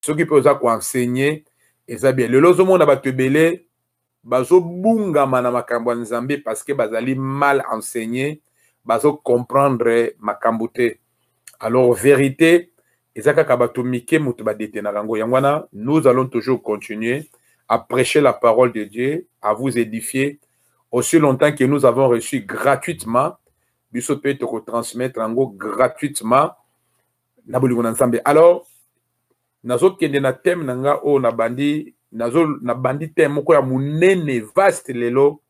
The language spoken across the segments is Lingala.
soki mpe oza koensegne eza bien lelo ozomona bato ebele bazobungama na makambo ya nzambe parceke bazali mal enseigné bazocomprendre makambo te alors verité eza kaka bato mike moto badetenaka yango yango wana nous allons toujours continuer à prêcher la parole de dieu à vous édifier aussi longtemps que nous avons reçu gratuitement biso mpe tokotransmettre yango gratuitement na bolingo na nzambe alors nazokende na teme na nga oyo nabandi nazo nabandi teme moko ya monene vaste lelo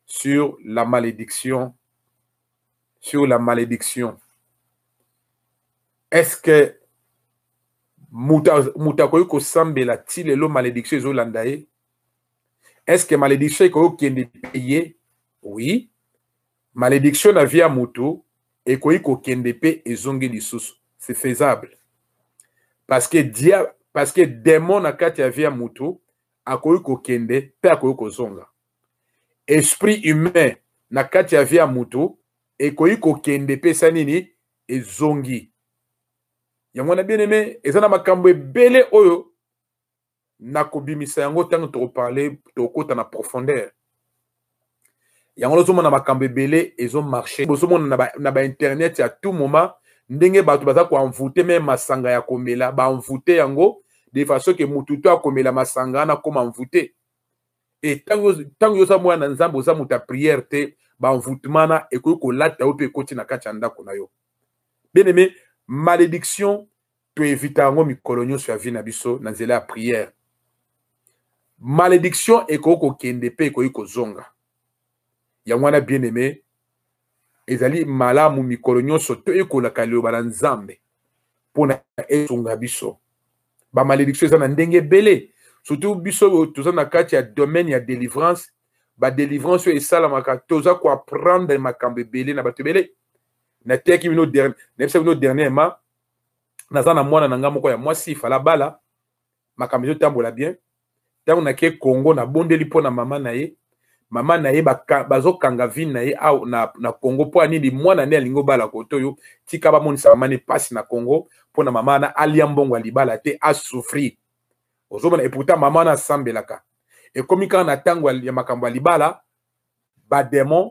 sur la malédiction sur la malédiction est ce que moto akoki kosambela ti lelo malédiction ezolanda ye est ce que malédiction ekoki kokende mpe ye oui Malediction na vie ya mutu ekoki kokende pe ezongi lisusu. C'est faisable. Parce que dia parce que demon na kati ya vie ya mutu akoki kokende pe akoki kozonga. Esprit humain na kati ya vie ya mutu ekoki kokende pe sa nini ezongi. Yango na bien aimé eza na makambo ebele oyo nakobimisa yango ntango tokoparle tokokota na profondeur yango nazomona makambo ebele ezomarche bozomona na bainternet ya tout moment ndenge bato baza koenvoute meme masanga ya komela baenvoute yango de façon ke motu to akomela masanga wana akoma envoute e ntango yo oza mwana na nzambe oza moto ya priere te baenvoutement na ekoki kolata yo mpe ekoti na kati ya ndako na yo bien aime malédiction to evita yango mikolo nyonso ya vie na biso na nzela ya prière malediction ekoki kokende mpe ekoki kozonga yango wana bien aimé ezali malamu mikolo nyonso toyekolaka liloba na nzambe mpo na esunga biso bamalediction eza na ndenge ebele surtout biso oyo toza na kati ya domaine ya délivrance badelivrance oyo esalamaka toza koapprendre makambo ebele na bato ebele nateyaki bino nayebisaki bino dernièrement naza na mwana na ngai moko ya mwasi ifala bala makambo ezotambola bien ntango nake congo nabondeli mpo na mama na ye mama na ye bazokanga vine na ye au na, na congo mpo ya nini mwana nde alingi obala koto oyo tika bamonisa mama ne mpasi na congo mpo na mama wana alia mbongo ya libala te asouffrir ozomona eputa mama wana asambelaka ekomi kaka na ntango ya makambo ya libala bademon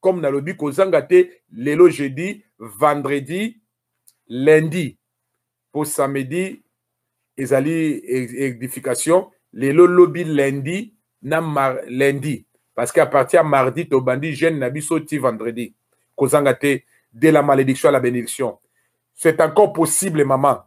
comme nalobi kozanga te lelo jeudi vendredi lundi mpo samedi ezali edification lelo lobi lundi na mar, lundi parce que à partir ya mardi tobandi jeune na biso ti vendredi kozanga te de la malédiction à la bénédiction c'est encore possible maman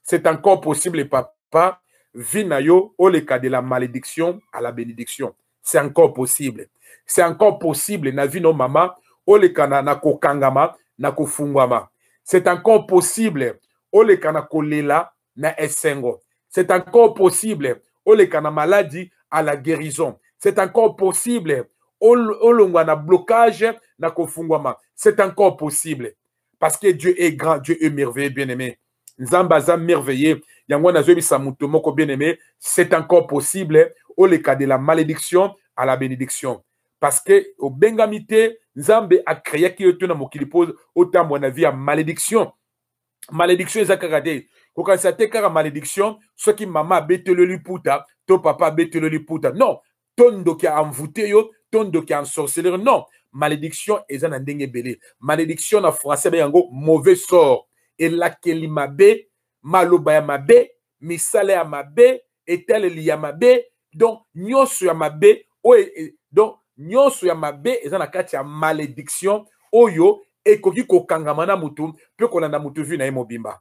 c'est encore possible papa vie na yo oleka de la malédiction à la bénédiction c'est encore possible c'est encore possible na vie no mama oleka na, na kokangama na kofungwama c'est encore possible oleka na kolela na esengo c'est encore possible oleka na maladi à la guérison c'est encore possible olongwa na blocage na kofungwama c'est encore possible parce que dieu est grand dieu est merveilleux bien aimé nzambe aza merveilleux yango wana azoyebisa moto moko bien aimé c'est encore possible oleka de la malédiction à la bénédiction parce que obengami te nzambe akreaki yo to na mokili mpo otambwa na vie ya malédiction malédiction eza kaka te kokanisa te kaka malédiction soki mama abeteli yo liputa to papa abeteli yo liputa non to ndoki a envoute yo to ndoki a ensorceler non malédiction eza na ndenge ebele malédiction na français ba yango mauvais sort elakeli mabe maloba ya mabe misala ya mabe etaleli ya mabe donc nyonso ya mabe oyo e, e, donc nyonso ya mabe eza na kati ya malédiction oyo ekoki kokangama na motu mpe kolanda motu vi na ye mobimba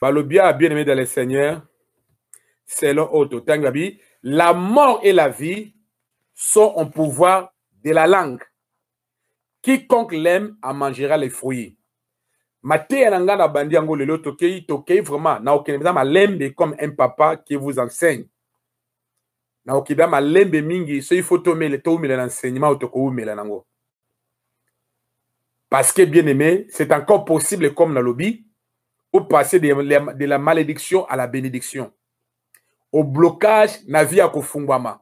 Balobia, bien aimé dans le Seigneur, selon Otto Tangabi, la mort et la vie sont en pouvoir de la langue. Quiconque l'aime en mangera les fruits. mateya na ngai na bandi yango lelo tokei tokei vraiment na okende mpenza malembe comme un papa qui vous enseigne na okebia malembe mingi soki fo tomele toumela na enseignement oyo tokoumela nango parce que bien aimé c'est encore possible comme nalobi opasser de, de la malédiction à la bénédiction au blocage na vie ya kofungwama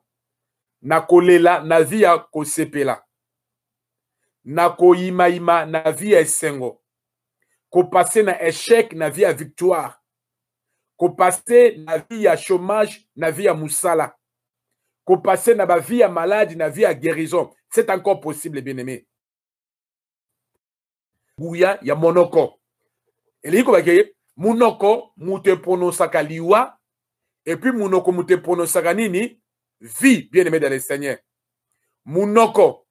na kolela na vie ya kosepela na koyimayima na vie ya esengo kopase na échec na vie ya victoire kopase na vie ya chômage na vie ya mosala kopase na bavie ya malade na vie ya guérison c'est encore possible bien aimé nguya ya monoko elingi kobaki ye monoko moto epronosaka liwa epuis monoko moto epronosaka nini vie bien aimé dans le seigneur monoko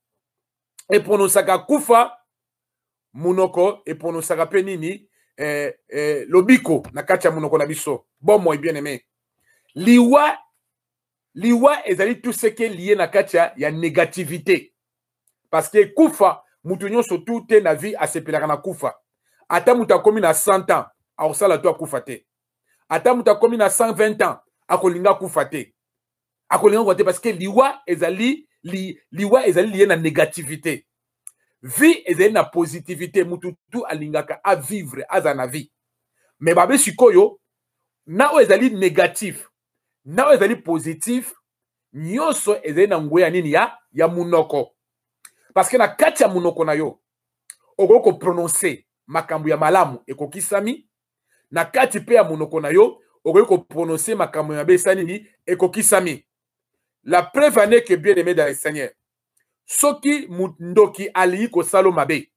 epronosaka kufa monoko eponosaka mpe nini eh, eh, lobiko na kati ya monoko na biso bomoi bien aimé liwa liwa ezali tout ce qui est lié na kati ya, ya négativité parce que kufa moto nyonso tu te na vie asepelaka na kufa ata moto akomi na 100 ans akosala to akufa te ata moto akomi na 120 ans akolinga akufa te akolinga kua te parce que liwa ezali li, liwa ezali liye na négativité vie ezali na positivité mutu tu alingaka avivre aza na vie mais babe sikoyo na oyo ezali négatif na oyo ezali positif nyonso ezali na ngwe ya nini ya ya monoko parce que na kati ya monoko na yo okoki koprononce makambo ya malamu ekokisami na kati mpe ya monoko na yo okoki koprononse makambo mabe esa nini ekokisami la preuve ane que bien aimé dans le seigneur soki ndoki alingi kosalo mabe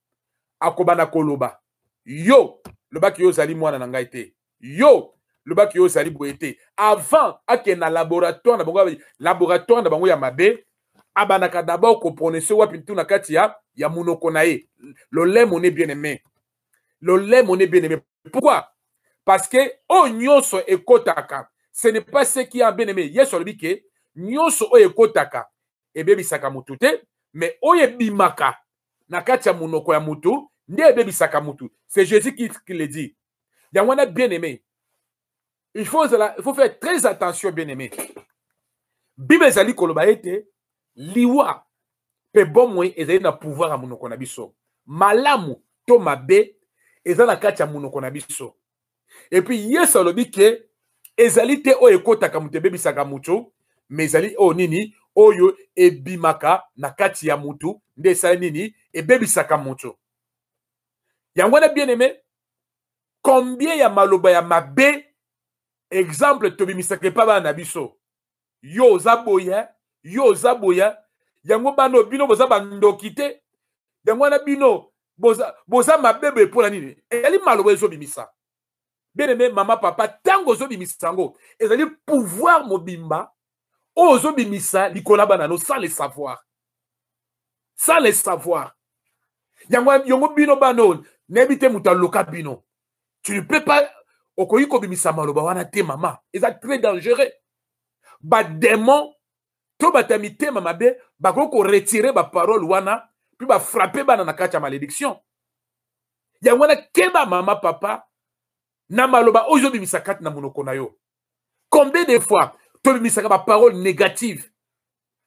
akobanda koloba yo lobaki yo ozali mwana na ngai te yo lobaki yo ozali boye te avant akende na laboratoire na bango laboratoire na bango ya mabe abandaka d'abord koprononse wapi ntu na kati ya ya monoko na ye lolemo ne bien aimé Lollet, mon bien-aimé. Pourquoi Parce que oh nyoso ekotaka. Ce n'est pas ce qui est bien-aimé. Yesu alobi ke nyoso oyo ekotaka ebebisaka mutu te, mais oyo ebimaka na kati ya monoko ya mutu nde ebebisaka mutu. C'est Jésus qui, qui le dit. Yango wana bien-aimé. il faut ezala il faut faire très attention bien aimé bible ezali koloba ete liwa mpe bomoi ezali na pouvoir ya monoko na biso malamu to mabe eza na kati ya monoko na biso epuis yesu alobi ke ezali te oyo ekotaka moto ebebisaka moto me ezali oyo nini oyo ebimaka na kati ya motu nde esali nini ebebisaka moto yango wana bien aime combien ya maloba ya mabe exemple tobimisaka epa bana na biso yo oza boye yo oza boye yango bano bino boza bandoki te yango wana bino boza, boza mabe boye mpo na nini ezali maloba ezobimisa bien aime mama papa ntango ozobimisa yango ezali pouvoir mobimba oyo ozobimisa likolo ya bana no sans le savoir sans le savoir yango yango bino bana oyo nayebi te moto aloka bino tu ne peux pas okoki kobimisa maloba wana te mama eza très dangereux bademon to bato ya mitema mabe bakoki koretire baparole wana mpe bafrape bana na kati ya malédiction yango wana keba mama papa na maloba oyo ozobimisa kati na monoko na yo combien de fois tobimisaka baparole négative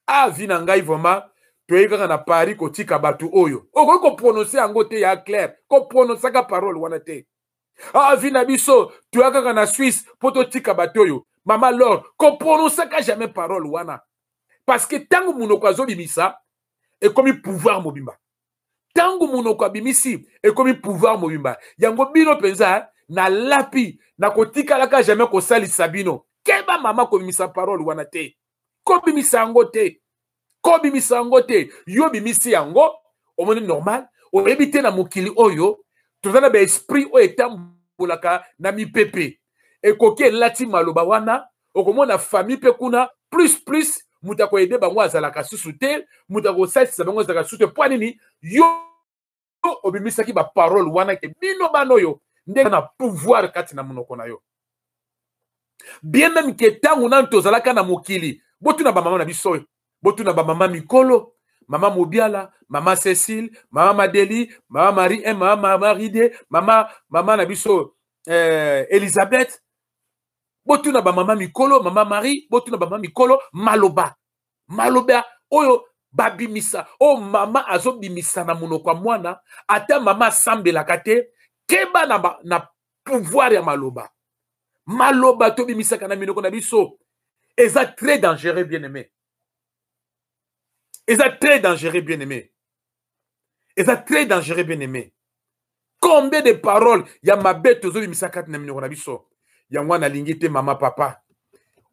a ah, vi na ngai vraiment toyei kaka na paris kotika bato oyo okoki koprononse yango te ya claire koprononsaka parole wana te a ah, vi na biso toya kaka na swisse mpo totika bato oyo mama lor koprononsaka jamais parole wana parce que ntango monoko azobimisa ekomi pouvoir mobimba ntango monoko abimisi ekomi pouvoir mobimba yango bino mpenza eh, nalapi nakotikalaka jamais kosalisa bino keba mama kobimisa parole wana te kobimisa yango te kobimisa yango te yo bimisi yango omoni normal oyebi te na mokili oyo toza na baesprit oyo etambolaka na mipepe ekoki elati maloba wana okomona famille mpe kuna plus plus moto akoyede bango azalaka susu te moto akosalisa bango azalaka susu te mpo nini yo obimisaki baparole wana ke bino bana oyo ndenge na pouvoir kati na monoko na yo bien meme ke ntango nanu tozalaka na mokili botuna bamama na biso oyo botuna bamama mikolo mama mobiala mama cecile mama madeli mama marie eh, mama maride mama mama na biso eh, elizabeth botuna bamama mikolo mama marie botuna bamama mikolo maloba maloba oyo babimisa oyo oh, mama azobimisa na monoko ya mwana ata mama asambelaka te keba na, na pouvoir ya maloba maloba tobimisaka na minoko na biso eza très dangereux bien aimé eza très dangereux bien aimé eza très dangereux bien aimé combien de paroles ya mabe tozobimisa kati na minoko na biso yango wana nalingi te mama papa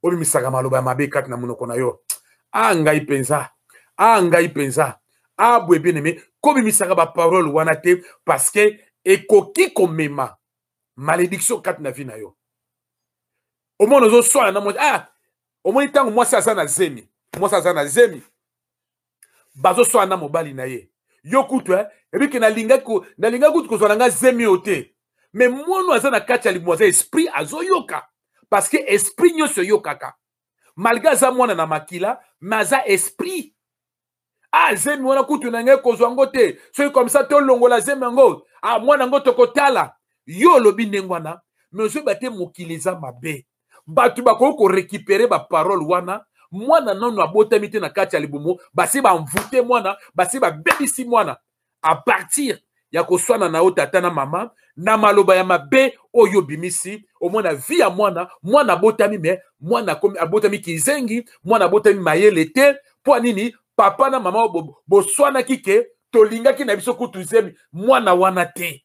obimisaka maloba ya mabe kati na monoko na yo a ah, ngai mpenza a ah, ngai mpenza a ah, boye bien aimé kobimisaka baparole wana te parce que ekoki komema malédiction kati na vie na yo omoni ozoswana na mwasi ah omoni ntango mwasi aza na zemi mwasi aza na zemi bazoswana na mobali na ye yo kutu eh, ebike nalingaki kutu kozwa na ngai zemi oyo te me mono aza na kati ya libumu aza esprit azoyoka parce que esprit nyonso eyokaka malgre aza mwana na makila me aza esprit ah zemi wana kutu na ngai kozwa yango te soki komisa tolongola zemi yango ah mwana yango tokotala yo olobi ndenge wana me ozoyeba te mokili eza mabe bato bakoki korekipere baparole wana mwana nano abotami te na kati ya libumu basi banvute mwana basi babebisi mwana a partir ya koswana na yo tata na mama na maloba ya mabe oyo obimisi omona vi ya mwana mwana abotami me mwana abotami kizengi mwana abotami mayele te mpo nini papa na mama boswanaki ke tolingaki na biso kutu zemi mwana wana te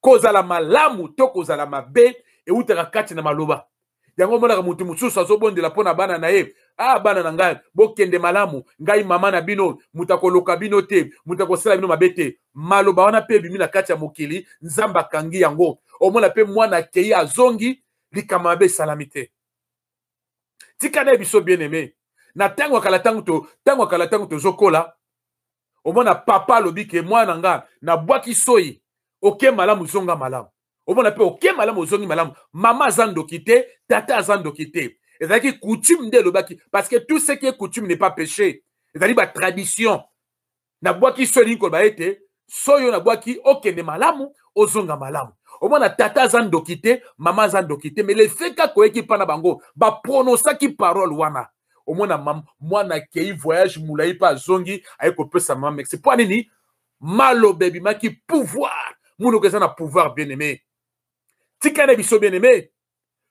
kozala malamu to kozala mabe eutaka kati na maloba yango omonaka moto mosusu azobondela mpo na bana na ye ah bana na ngai bokende malamu ngai mama na bino moto akoloka bino te moto akosala bino mabe te maloba wana mpe ebimi na kati ya mokili nzambe akangi yango omona mpe mwana akei azongi likambo mabe esalami te tika na ye biso bien aime na ntango ya kala ntango to ntango ya kala ntango tozokola omona papa alobi ke mwana na nga nabwaki soyi oke malamu zonga malamu omona mpe oke malamu ozongi malamu mama aza ndoki te tata aza ndoki te ezalaki coutume nde elobaki parce que tout ce qui est coutume n'est pas péché ezali batradition nabwaki soyi elingi koloba ete soyi oyo nabwaki okende malamu ozonga malamu omona tata aza ndoki te mama aza ndoki te mais lefeka koyeki mpa na bango baprononsaki parole wana omona mam mwana akei voyage molai mpe azongi aye kopesa mama merci mpo nini maloba ebimaki pouvoir monoko eza na pouvoir bien aimé tika na biso bien aimé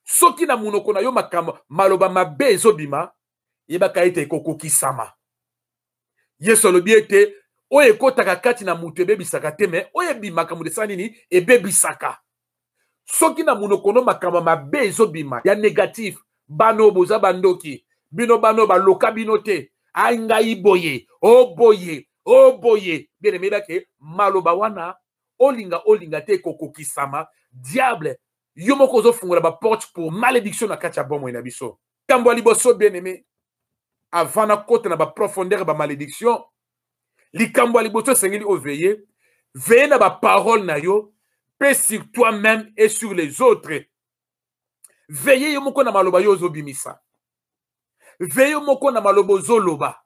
soki na monoko na yo makambo maloba mabe ezobima yebaka ete ekokokisama yesu alobi ete oyo ekotaka kati na moto ebebisaka te me oyo ebimaka moto esala nini ebebisaka soki na monoko no makambo mabe ezobima ya negatif bana oyo boza bandoki bino bana oyo baloka bino te ai ngai boye o oh boye o oh boye bien emeyeba ke maloba wana olinga olinga te ekokokisama diable yo moko ozofungola baporte pour malédiction na kati ya bomoi na biso likambo ya liboso bien aime avant nakota na baprofondeur ya bamalédiction likambo ya liboso esengeli oveye veye na baparole na yo mpe sur toi même et sur les autres veye yo moko na maloba yo ozobimisa veye yo moko na maloba ozoloba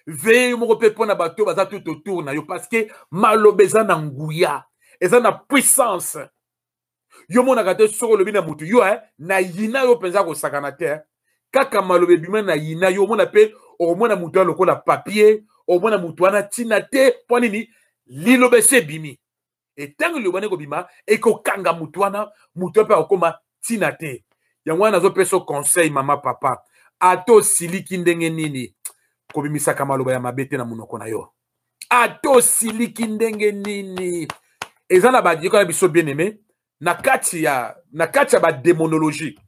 veye yo moko mpe mpo na bato baza tout autour na yo parce que maloba eza na nguya eza na puissance yo omonaka te soki olobi na motu yo eh, na yina yo mpenza kosakana te eh. kaka maloba ebima na yina yo omona mpe okomona motu wana lokola papier omona motu wana ntina te mpo nini liloba esi ebimi etango liloba nde ekobima ekokanga motu wana motu wana mpe akokoma ntina te yango wana nazopesa conseil mama papa ata osiliki ndenge nini kobimisaka maloba ya mabe te na monoko na yo ata osiliki ndenge nini eza na bayoka na biso bien aimé na kati ya na kati ya bademonologie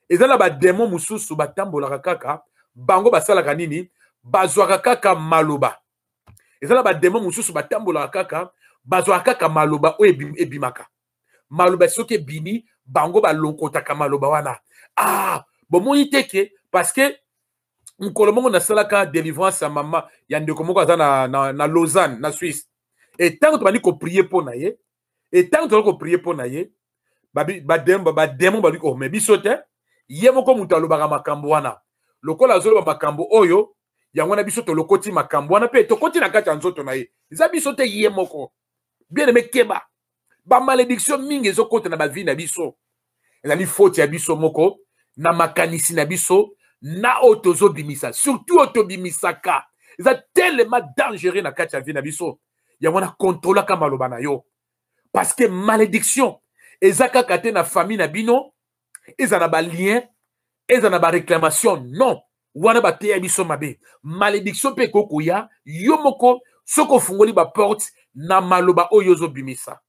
eza na bademo mosusu batambolaka kaka bango basalaka nini bazwaka kaka maloba eza na bademo mosusu batambolaka kaka bazwaka kaka maloba oyo ebimaka maloba soki ebimi bango balokotaka maloba wana ah bomoni te ke parce que mokolo moko nasalaka délivrance ya mama ya ndeko moko aza na, na, na lausanne na suisse e ntango tobandi koprie mpo na ye e ntango tozali koprie mpo na ye bademo ba, ba balobi oh me biso te ye moko moto alobaka makambo wana lokola azoloba makambo oyo yango wana biso tolokoti makambo wana mpe tokoti na kati ya nzoto na ye eza biso te ye moko bien aime keba bamalédiction mingi ezokota na bavie na biso ezali foti ya biso moko na makanisi na biso na oyo tozobimisa surtout oyo tobimisaka eza telema dangereux na kati ya vie na biso yango na kontrolaka maloba na yo parce que malédiction eza kaka te na famille na bino eza na balien eza na baréclamation non wana bateya biso mabe malédiction mpe ekoki koya yo moko soki ofungoli baporte na maloba oyo ozobimisa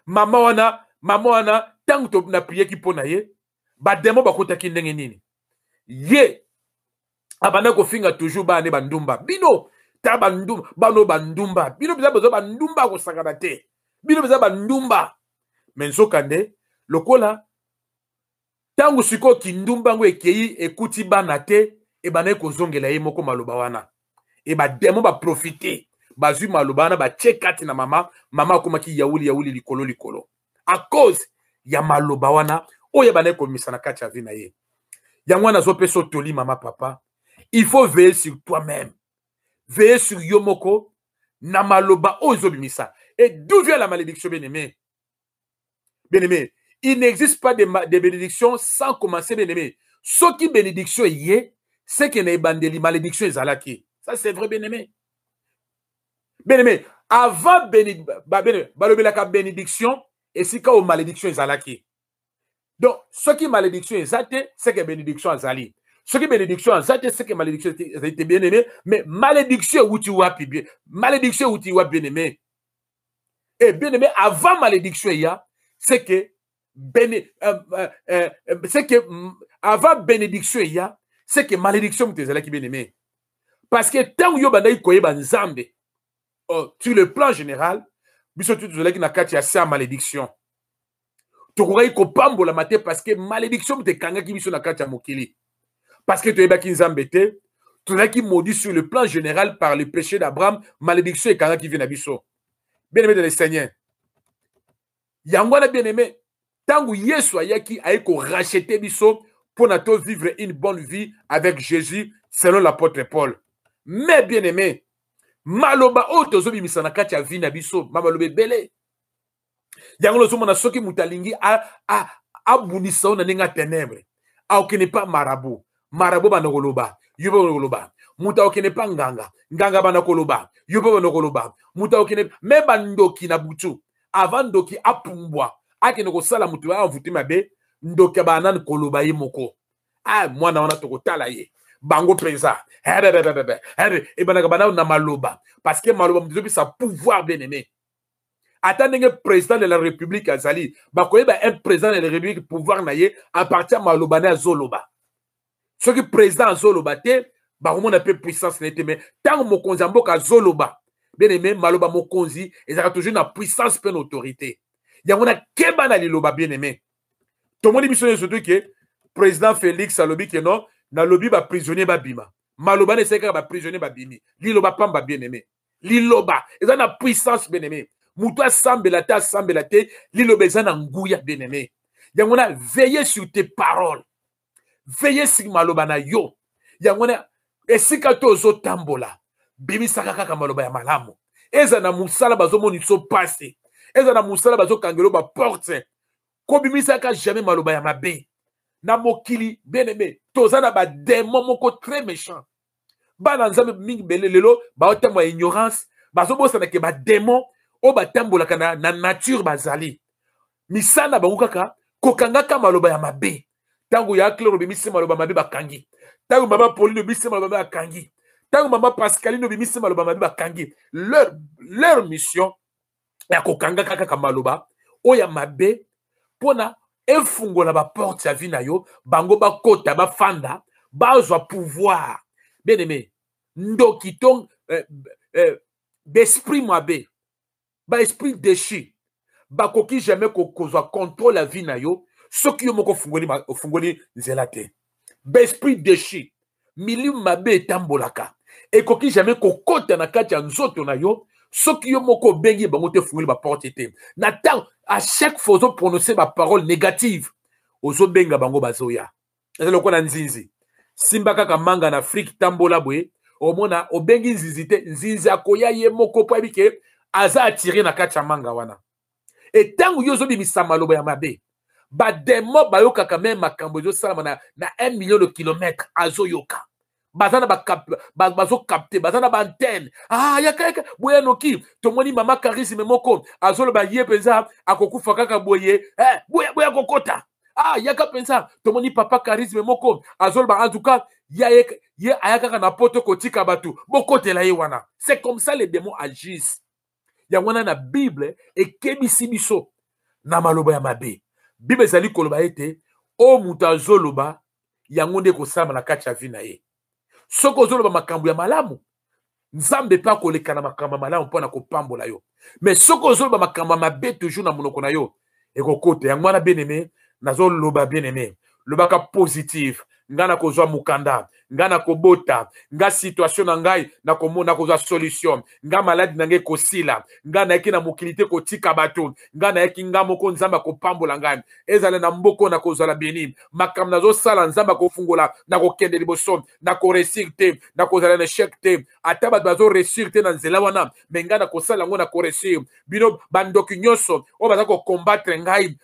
mama wana mama wana ntango naprieki mpo na ye bademo bakotaki ndenge nini ye abanda kofinga toujours bana nde bandumba bino ta bandumba bano bandumba bino mpenza boza bandumba kosakana te bino mpenza bandumba me nzokande lokola ntango sikoyo kindumba yango ekei ekuti bana te ebandaki kozongela ye moko maloba wana e bademo baprofite bazwi maloba wana batye kati na mama mama akomaki yauli yauli likolo likolo à cause ya maloba wana oyo ebandaki komisa na kati ya vie na ye yango wana azopesa otoli mama papa il faut veiller sur toi même veiller sur yo moko na maloba oyo ezobimisa et d'où vient la malédiction bien aimé bien aimé il n'existe pas de, de bénédiction sans commencer bien aimé soki bénédiction eye seke na ebandeli malédiction ezalaki ça c'est vrai bien aimé bien aimé avant beni, ba, bene, balobelaka bénédiction esika oyo malédiction ezalaki donc soki malédiction eza te seke bénédiction azali soki bénédiction aza te seke malédiction ezali te bien aimé mais malédiction ewuti wapi bien malédiction ewuti wapi bien aimé e bien aimé avant malédiction eya seke bene, euh, euh, euh, euh c'est que mm, avant bénédiction il y a c'est que malédiction moto ezalaki bien aimé parce que ntango yo obandaki koyeba nzambe oh, sur le plan général biso tu tozalaki na kati ya se ya malédiction tokokaki kopambolama te parce que malédiction moto ekangaki biso na kati ya mokili parce que toyebaki nzambe te tozalaki maudit sur le plan général par le péché d'abraham malédiction ekangaki vie na biso bien aimé de le seigneur yango wana bien aime ntango yesu ayaki aye korachete biso mpo na to vivre une bonne vie avec jésus selon l'apôtre paul mais bien aime maloba oyo tozobimisa na kati ya vie na biso mamaloba ebele yango nazomona soki moto alingi abundisa yo na ndenge ya tenebre akokende pa marabu marabu banda koloba yo mpe banda koloba moto akokende pa nganga nganga banda koloba yo mpe banda koloba moto akokende me bandoki na butu ava ndoki apumbwa akende kosala moto ya envoute mabe ndoki abaa nani koloba ye moko a ah, mwana wana tokotala ye bango mpenza ebandaka bana na maloba parce que maloba moto ezopesa pouvoir bien aimé ata ndenge président de la république azali bakoyeba un président de la république pouvoir na ye à partir ya maloba na ye azoloba soki président azoloba te bakomona mpe puissance na ye te mai ntango mokonzi ya mboka azoloba bien aimé maloba mokonzi ezalaka toujours na puissance mpe na autorité yango na keba na liloba bien aimé tomoni biso nyonso tu ke président félix alobi ke non nalobi baprisonnier babima maloba na esali kaka baprisonnier babimi liloba pamba bien aimé liloba eza na puissance bien aimé moto asambela te asambela te liloba eza na nguya bien aimé yango na veille sur tes paroles veille sur maloba na yo yango na esika to ozotambola bimisaka kaka maloba ya malamu eza na mosala bazomonisa mpasi eza na mosala bazokangelo baporte kobimisaka jamais maloba ya mabe na mokili bien aimé toza na bademo moko très méchant bana nzambe mingi bele lelo baotambwa ya ignorance bazobosana ke bademon oyo batambolaka na, na nature bazali misala na bango kaka kokangaka maloba ya mabe ntango ya claire obimisi maloba mabe bakangi ntango mama pauline obimisi maloba mabe bakangi ntango mama pascaline obimisi maloba mabe bakangi leur, leur mission ya kokangaka kaka maloba oyo ya mabe mpo na efungola baporte ya vi na yo bango bakota bafanda bazwa pouvoir bien aimé ndoki to eh, eh, d'esprit mabe baesprit déchu bakoki jamais kozwa contrôle ya vie na yo soki yo moko ofungoli nzela te baesprit dechu milimu mabe etambolaka ekoki jamais kokota na kati ya nzoto na yo soki yo moko obengi bango te ofungoli baporte te na ntango à chaque fois ozoprononce baparole négative ozobenga bango bazoya eza lokola nzinzi simba kaka manga na afrike tambola boye omona obengi nzinzi te nzinzi akoya ye moko mpo ayebi ke aza atire na kati ya manga wana e ntango yo ozobimisa maloba ya mabe bademo bayokaka meme makambo ezosalama na, na 1 million de kilomètre azoyoka baza na bazokapte baza na baantene ah, yaka yaka boye anoki tomoni mama karisme moko azoloba ye mpenza akokufa kaka boye eh, boye boye akokota ah, yaka mpenza tomoni papa karisme moko azoloba antuka ye, ye aya kaka na poto kotika bato bokotela ye wana c'est comme ça les démons agissent yango wana na bible ekebisi biso na maloba ya mabe bible ezali koloba ete oyo moto azoloba yango nde ekosalama na kati ya vi na ye soki ozoloba makambo ya malamu nzambe mpe akoleka na makambo ya malamu mpo na kopambola yo me soki ozoloba makambo ya mabe toujours na monoko na yo ekokota yango wana bien aime nazoloba bien aime lobaka positive ngai nakozwa mokanda ngai nakobota ngai situation na ngai nakomona nakozwa solution ngai maladi na ngai ekosila ngai nayaki na mokili te kotika bato ngai nayaki ngai moko nzambe akopambola ngai ezala na mboko nakozala beni makambo nazosala nzambe akofungola nakokende liboso nakoresir te nakozala na echec te ata bato bazo réussir te na nzela wana me ngai nakosala yango na koresir bino bandoki nyonso oyo baza kokombatre ngai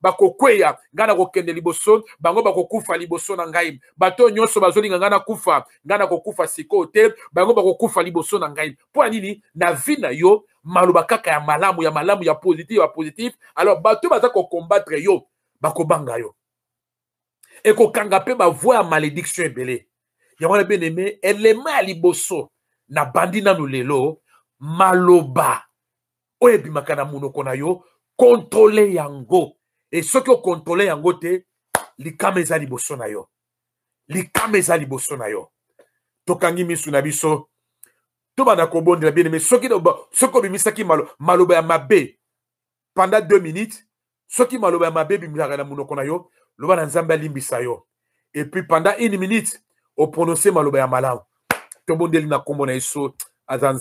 bakokweya bako ngai nakokende liboso bango bakokufa liboso na ngai bato oyo nyonso bazolinga ngai nakufa ngai nakokufa sikoyo te bango bakokufa liboso na ngai mpo ya nini na vi na yo maloba kaka ya malamu ya malamu ya positif ya positif alors bato baza kokombatre yo bakobanga yo ekokanga mpe bavoi ya malediction ebele yango wana bien aime elema ya liboso na bandi nanu lelo maloba oyo ebimaka na monoko na yo kontrole yango e soki okontrole yango te likama eza liboso na yo likama eza liboso na yo tokangi misu na biso tobanda kobondela bien aime soki soki obimisaki malo, maloba ya mabe pendant deux minutes soki maloba ya mabe ebimisaka na monoko na yo loba na nzambe alimbisa yo epuis pendant une minute oprononce maloba ya malamu tobondeli na nkombo na yesu aza